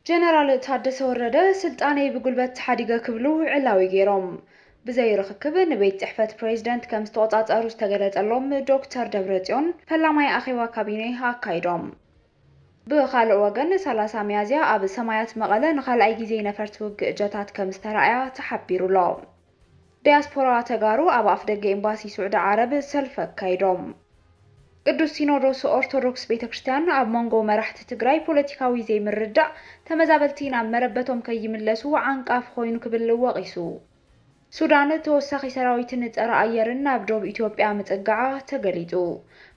ጀነራል ታደሰ ወረደ ስልጣነይ ብጉልበት ተሓዲገ ክብሉ ዕላዊ ገይሮም ብዘይ ርኽክብ ንቤት ፅሕፈት ፕሬዝደንት ከምዝተቖፃፀሩ ዝተገለፀሎም ዶክተር ደብረፅዮን ፈላማይ ኣኼባ ካቢኔ ኣካይዶም። ብኻልእ ወገን ሰላሳ ሚያዝያ ኣብ ሰማያት መቐለ ንኻልኣይ ጊዜ ነፈርቲ ውግእ ጀታት ከምዝተራእያ ተሓቢሩ'ሎ። ዲያስፖራ ተጋሩ ኣብ ኣፍደገ ኤምባሲ ሱዕዲ ዓረብ ሰልፊ ኣካይዶም። ቅዱስ ሲኖዶስ ኦርቶዶክስ ቤተ ክርስቲያን ኣብ መንጎ መራሕቲ ትግራይ ፖለቲካዊ ዘይምርድዳእ ተመዛበልቲ ናብ መረበቶም ከይምለሱ ዓንቃፊ ኮይኑ ክብል ወቒሱ። ሱዳን ተወሳኺ ሰራዊትን ጸረ ኣየርን ናብ ዶብ ኢትዮጵያ ምጽግዓ ተገሊጹ።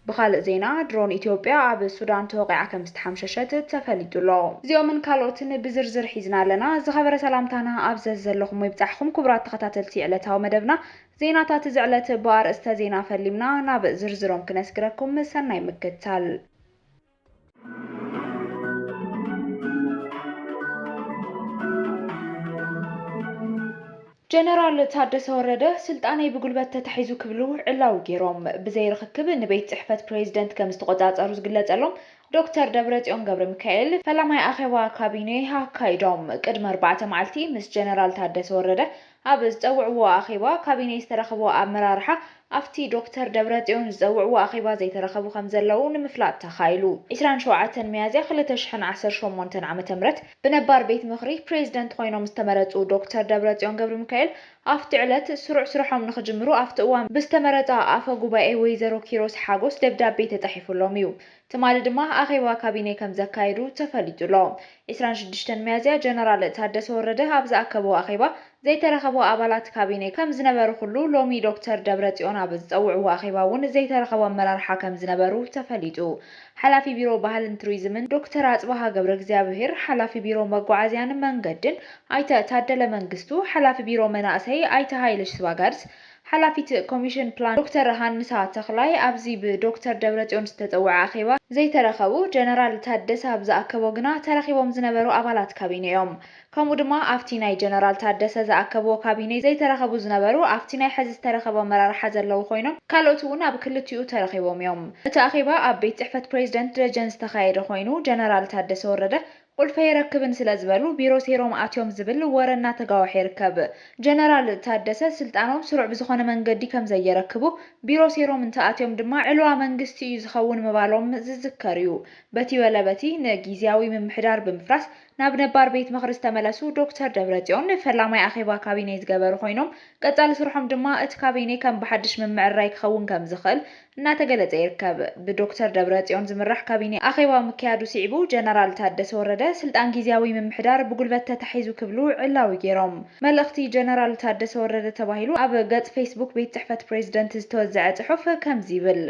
ብኻልእ ዜና ድሮን ኢትዮጵያ ኣብ ሱዳን ተወቒዓ ከምዝተሓምሸሸት ተፈሊጡ ኣሎ። እዚኦምን ካልኦትን ብዝርዝር ሒዝና ኣለና። ዝኸበረ ሰላምታና ኣብ ዘዝዘለኹሞ ይብጻሕኹም ክቡራት ተኸታተልቲ ዕለታዊ መደብና ዜናታት እዚ ዕለት ብኣርእስተ ዜና ፈሊምና ናብ ዝርዝሮም ክነስግረኩም ሰናይ ምክትታል። ጀነራል ታደሰ ወረደ ስልጣነይ ብጉልበት ተታሒዙ ክብሉ ዕላዊ ገይሮም ብዘይ ርኽክብ ንቤት ፅሕፈት ፕሬዚደንት ከምዝተቖፃፀሩ ዝግለፀሎም ዶክተር ደብረፅዮን ገብረሚካኤል ፈላማይ ኣኼባ ካቢኔ ኣካይዶም። ቅድሚ ኣርባዕተ መዓልቲ ምስ ጀነራል ታደሰ ወረደ ኣብ ዝፀውዕዎ ኣኼባ ካቢኔ ዝተረኸቡ ኣመራርሓ ኣፍቲ ዶክተር ደብረፅዮን ዝፀውዕዎ ኣኼባ ዘይተረኸቡ ከምዘለዉ ንምፍላጥ ተኻኢሉ። ዕስራን ሸውዓተን ሚያዝያ ክልተ ሽሕን ዓሰርተ ሸሞንተን ዓመተ ምህረት ብነባር ቤት ምኽሪ ፕሬዚደንት ኾይኖም ዝተመረፁ ዶክተር ደብረፅዮን ገብርሚካኤል ኣፍቲ ዕለት ስሩዕ ስርሖም ንኽጅምሩ ኣፍቲ እዋን ብዝተመረፃ ኣፈ ጉባኤ ወይዘሮ ኪሮስ ሓጎስ ደብዳቤ ተፃሒፉሎም እዩ ትማሊ ድማ ኣኼባ ካቢኔ ከምዘካየዱ ተፈሊጡ'ሎ። ዕስራን ሽዱሽተን ሚያዝያ ጀነራል ታደሰ ወረደ ኣብ ዝኣከቦ ኣኼባ ዘይተረኸቡ ኣባላት ካቢኔ ከምዝነበሩ ኩሉ ሎሚ ዶክተር ደብረጽዮን ኣብ ዝጸውዕዎ ኣኼባ እውን ዘይተረኸቡ ኣመራርሓ ከምዝነበሩ ተፈሊጡ ሓላፊ ቢሮ ባህልን ቱሪዝምን ዶክተር ኣጽብሃ ገብረእግዚኣብሄር፣ ሓላፊ ቢሮ መጓዓዝያን መንገድን ኣይተ ታደለ መንግስቱ፣ ሓላፊ ቢሮ መናእሰይ ኣይተ ሃይለ ሽስባጋርስ፣ ሓላፊት ኮሚሽን ፕላን ዶክተር ሃንሳ ተኽላይ ኣብዚ ብዶክተር ደብረፅዮን ዝተፀወዐ ኣኼባ ዘይተረኸቡ ጀነራል ታደሰ ኣብ ዝኣከቦ ግና ተረኺቦም ዝነበሩ ኣባላት ካቢኔ እዮም። ከምኡ ድማ ኣፍቲ ናይ ጀነራል ታደሰ ዝኣከብዎ ካቢኔ ዘይተረኸቡ ዝነበሩ ኣፍቲ ናይ ሐዚ ዝተረኸቡ ኣመራርሓ ዘለዉ ኮይኖም ካልኦት እውን ኣብ ክልቲኡ ተረኺቦም እዮም። እቲ ኣኼባ ኣብ ቤት ፅሕፈት ፕሬዚደንት ደጀን ዝተኻየደ ኮይኑ ጀነራል ታደሰ ወረደ ቁልፊ ኣይረክብን ስለ ዝበሉ ቢሮ ሰይሮም ኣትዮም ዝብል ወረ እናተጋወሐ ይርከብ። ጀነራል ታደሰ ስልጣኖም ስሩዕ ብዝኾነ መንገዲ ከም ዘየረክቡ፣ ቢሮ ሰይሮም እንተኣትዮም ድማ ዕልዋ መንግስቲ እዩ ዝኸውን ምባሎም ዝዝከር እዩ። በቲ በለ በቲ ንጊዚያዊ ምምሕዳር ብምፍራስ ናብ ነባር ቤት ምኽሪ ዝተመለሱ ዶክተር ደብረፅዮን ፈላማይ ኣኼባ ካቢኔ ዝገበሩ ኮይኖም ቀፃሊ ስርሖም ድማ እቲ ካቢኔ ከም ብሓድሽ ምምዕርራይ ክኸውን ከም ዝኽእል እናተገለፀ ይርከብ። ብዶክተር ደብረፅዮን ዝምራሕ ካቢኔ ኣኼባ ምክያዱ ስዒቡ ጀነራል ታደሰ ወረደ ስልጣን ጊዚያዊ ምምሕዳር ብጉልበት ተታሒዙ ክብሉ ዕላዊ ገይሮም። መልእኽቲ ጀነራል ታደሰ ወረደ ተባሂሉ ኣብ ገፅ ፌስቡክ ቤት ፅሕፈት ፕሬዚደንት ዝተወዘዐ ፅሑፍ ከምዚ ይብል፣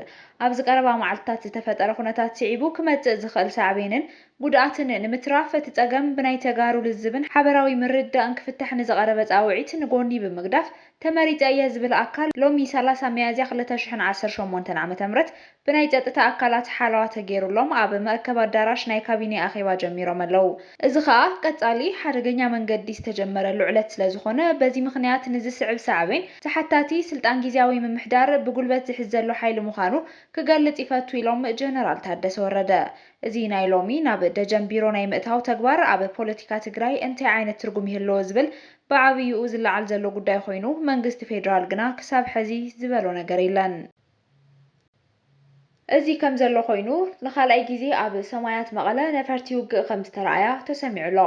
ኣብዚ ቀረባ መዓልትታት ዝተፈጠረ ኩነታት ስዒቡ ክመፅእ ዝኽእል ሳዕቤንን ጉድኣትን ንምትራፍ እቲ ፀገም ብናይ ተጋሩ ልዝብን ሓበራዊ ምርድዳእን ክፍታሕ ንዝቐረበ ፃውዒት ንጎኒ ብምግዳፍ ተመሪጸ እየ ዝብል ኣካል ሎሚ ሰላሳ ሚያዝያ ክልተ ሽሕን ዓሰርተ ሸሞንተን ዓመተ ምህረት ብናይ ጸጥታ ኣካላት ሓለዋ ተገይሩሎም ኣብ መእከቢ ኣዳራሽ ናይ ካቢኔ ኣኼባ ጀሚሮም ኣለዉ። እዚ ከኣ ቀጻሊ ሓደገኛ መንገዲ ዝተጀመረሉ ዕለት ስለ ዝኾነ በዚ ምኽንያት ንዝስዕብ ሳዕቤን ተሓታቲ ስልጣን ጊዚያዊ ምምሕዳር ብጉልበት ዝሕዝ ዘሎ ሓይሊ ምዃኑ ክገልጽ ይፈቱ ኢሎም ጀነራል ታደሰ ወረደ። እዚ ናይ ሎሚ ናብ ደጀን ቢሮ ናይ ምእታው ተግባር ኣብ ፖለቲካ ትግራይ እንታይ ዓይነት ትርጉም ይህልዎ ዝብል ብዓብይኡ ዝለዓል ዘሎ ጉዳይ ኾይኑ መንግስቲ ፌዴራል ግና ክሳብ ሐዚ ዝበሎ ነገር የለን። እዚ ከምዘሎ ኾይኑ ንኻልኣይ ግዜ ኣብ ሰማያት መቐለ ነፈርቲ ውግእ ከምዝተረኣያ ተሰሚዑ ኣሎ።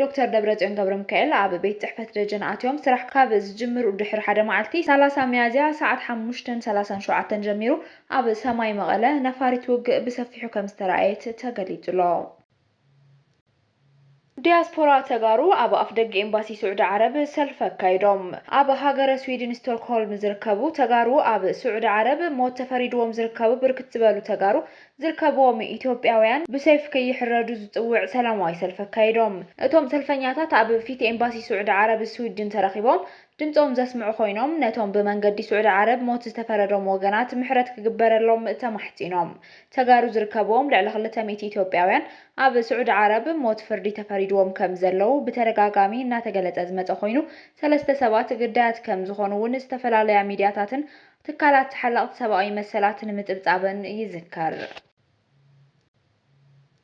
ዶክተር ደብረፅዮን ገብረሚካኤል ኣብ ቤት ፅሕፈት ደጀን ኣትዮም ስራሕ ካብ ዝጅምሩ ድሕሪ ሓደ መዓልቲ ሰላሳ ሚያዝያ ሰዓት ሓሙሽተን ሰላሳን ሸውዓተን ጀሚሩ ኣብ ሰማይ መቐለ ነፋሪት ውግእ ብሰፊሑ ከምዝተረኣየት ተገሊፁ ኣሎ። ዲያስፖራ ተጋሩ ኣብ ኣፍደገ ኤምባሲ ስዑዲ ዓረብ ሰልፊ ኣካይዶም። ኣብ ሃገረ ስዊድን ስቶክሆልም ዝርከቡ ተጋሩ ኣብ ስዑዲ ዓረብ ሞት ተፈሪድዎም ዝርከቡ ብርክት ዝበሉ ተጋሩ ዝርከብዎም ኢትዮጵያውያን ብሰይፊ ከይሕረዱ ዝፅውዕ ሰላማዊ ሰልፊ ኣካይዶም። እቶም ሰልፈኛታት ኣብ ፊት ኤምባሲ ስዑዲ ዓረብ ስዊድን ተረኺቦም ድምፆም ዘስምዑ ኮይኖም ነቶም ብመንገዲ ስዑዲ ዓረብ ሞት ዝተፈረዶም ወገናት ምሕረት ክግበረሎም ተማሕፂኖም። ተጋሩ ዝርከብዎም ልዕሊ ክልተ ሚእቲ ኢትዮጵያውያን ኣብ ስዑዲ ዓረብ ሞት ፍርዲ ተፈሪድዎም ከም ዘለዉ ብተደጋጋሚ እናተገለፀ ዝመፀ ኮይኑ ሰለስተ ሰባት ግዳያት ከም ዝኾኑ እውን ዝተፈላለያ ሚድያታትን ትካላት ተሓለቕቲ ሰብኣዊ መሰላትን ምፅብፃበን ይዝከር።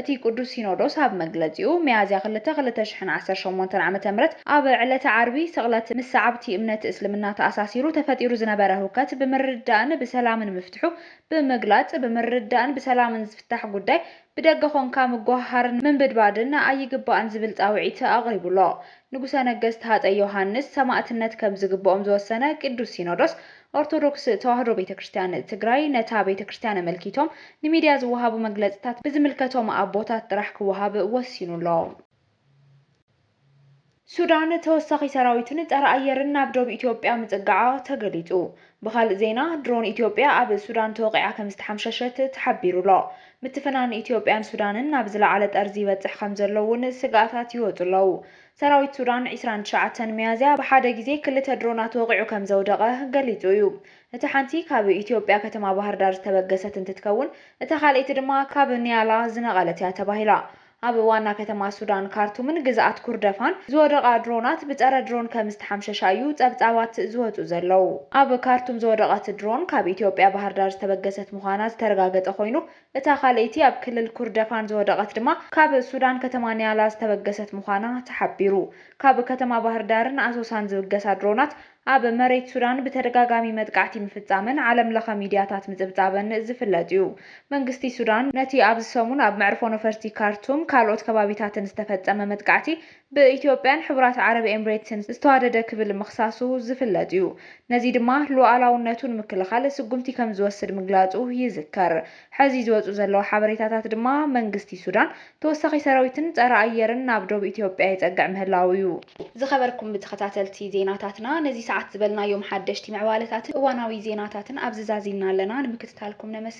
እቲ ቅዱስ ሲኖዶስ ኣብ መግለጺኡ፣ ሚያዝያ ክልተ ክልተ ሽሕን ዓሰርተ ሸሞንተን ዓመተ ምህረት ኣብ ዕለተ ዓርቢ ስቕለት ምስ ሰዓብቲ እምነት እስልምና ተኣሳሲሩ ተፈጢሩ ዝነበረ ህውከት ብምርድዳእን ብሰላምን ምፍትሑ ብምግላጽ፣ ብምርድዳእን ብሰላምን ዝፍታሕ ጉዳይ ብደገ ኮንካ ምጉህሃርን ምንብድባድን ኣይግባእን ዝብል ጻውዒት ኣቕሪቡ ኣሎ። ንጉሰ ነገስት ሃጸይ ዮሃንስ ሰማእትነት ከም ዝግብኦም ዝወሰነ ቅዱስ ሲኖዶስ፣ ኦርቶዶክስ ተዋህዶ ቤተ ክርስትያን ትግራይ ነታ ቤተ ክርስትያን ኣመልኪቶም ንሚድያ ዝወሃቡ መግለፅታት ብዝምልከቶም ኣቦታት ጥራሕ ክወሃብ ወሲኑ ኣሎ። ሱዳን ተወሳኺ ሰራዊትን ፀረ ኣየርን ናብ ዶብ ኢትዮጵያ ምፅጋዓ ተገሊፁ ብኻሊእ ዜና ድሮን ኢትዮጵያ ኣብ ሱዳን ተወቒዓ ከምዝተሓምሸሸት ተሓቢሩ ኣሎ። ምትፍናን ኢትዮጵያን ሱዳንን ናብ ዝለዓለ ጠርዚ ይበፅሕ ከምዘሎ እውን ስግኣታት ይወፁ ኣለው። ሰራዊት ሱዳን ዕስራን ትሽዓተን ሚያዝያ ብሓደ ግዜ ክልተ ድሮናት ወቒዑ ከምዘውደቐ ገሊጹ እዩ። እታ ሓንቲ ካብ ኢትዮጵያ ከተማ ባህርዳር ዝተበገሰት እንትትከውን እታ ካልኣይቲ ድማ ካብ ኒያላ ዝነቐለት እያ ተባሂላ። ኣብ ዋና ከተማ ሱዳን ካርቱምን ግዝኣት ኩርደፋን ዝወደቓ ድሮናት ብጸረ ድሮን ከምዝተሓምሸሻ እዩ ጸብጻባት ዝወጹ ዘለዉ። ኣብ ካርቱም ዝወደቐት ድሮን ካብ ኢትዮጵያ ባህርዳር ዝተበገሰት ምዃና ዝተረጋገጸ ኮይኑ እታ ካልኣይቲ ኣብ ክልል ኩርደፋን ዝወደቐት ድማ ካብ ሱዳን ከተማ ኒያላ ዝተበገሰት ምዃና ተሓቢሩ። ካብ ከተማ ባህርዳርን ኣሶሳን ዝብገሳ ድሮናት ኣብ መሬት ሱዳን ብተደጋጋሚ መጥቃዕቲ ምፍጻመን ዓለምለኸ ሚድያታት ምጽብጻበን ዝፍለጥ'ዩ። መንግስቲ ሱዳን ነቲ ኣብዚ ሰሙን ኣብ መዕርፎ ነፈርቲ ካርቱም ካልኦት ከባቢታትን ዝተፈጸመ መጥቃዕቲ ብኢትዮጵያን ሕቡራት ዓረብ ኤምሬትስን ዝተዋደደ ክብል ምኽሳሱ ዝፍለጥ እዩ። ነዚ ድማ ሉኣላውነቱ ንምክልኻል ስጉምቲ ከም ዝወስድ ምግላጹ ይዝከር። ሕዚ ዝወጹ ዘለዉ ሓበሬታታት ድማ መንግስቲ ሱዳን ተወሳኺ ሰራዊትን ጸረ ኣየርን ናብ ዶብ ኢትዮጵያ የጸግዕ ምህላዉ እዩ። ዝኸበርኩም ተኸታተልቲ ዜናታትና ነዚ ሰዓት ዝበልናዮም ሓደሽቲ ምዕባለታትን እዋናዊ ዜናታትን ኣብዚ ዛዚምና ኣለና ንምክትታልኩም ነመስግን።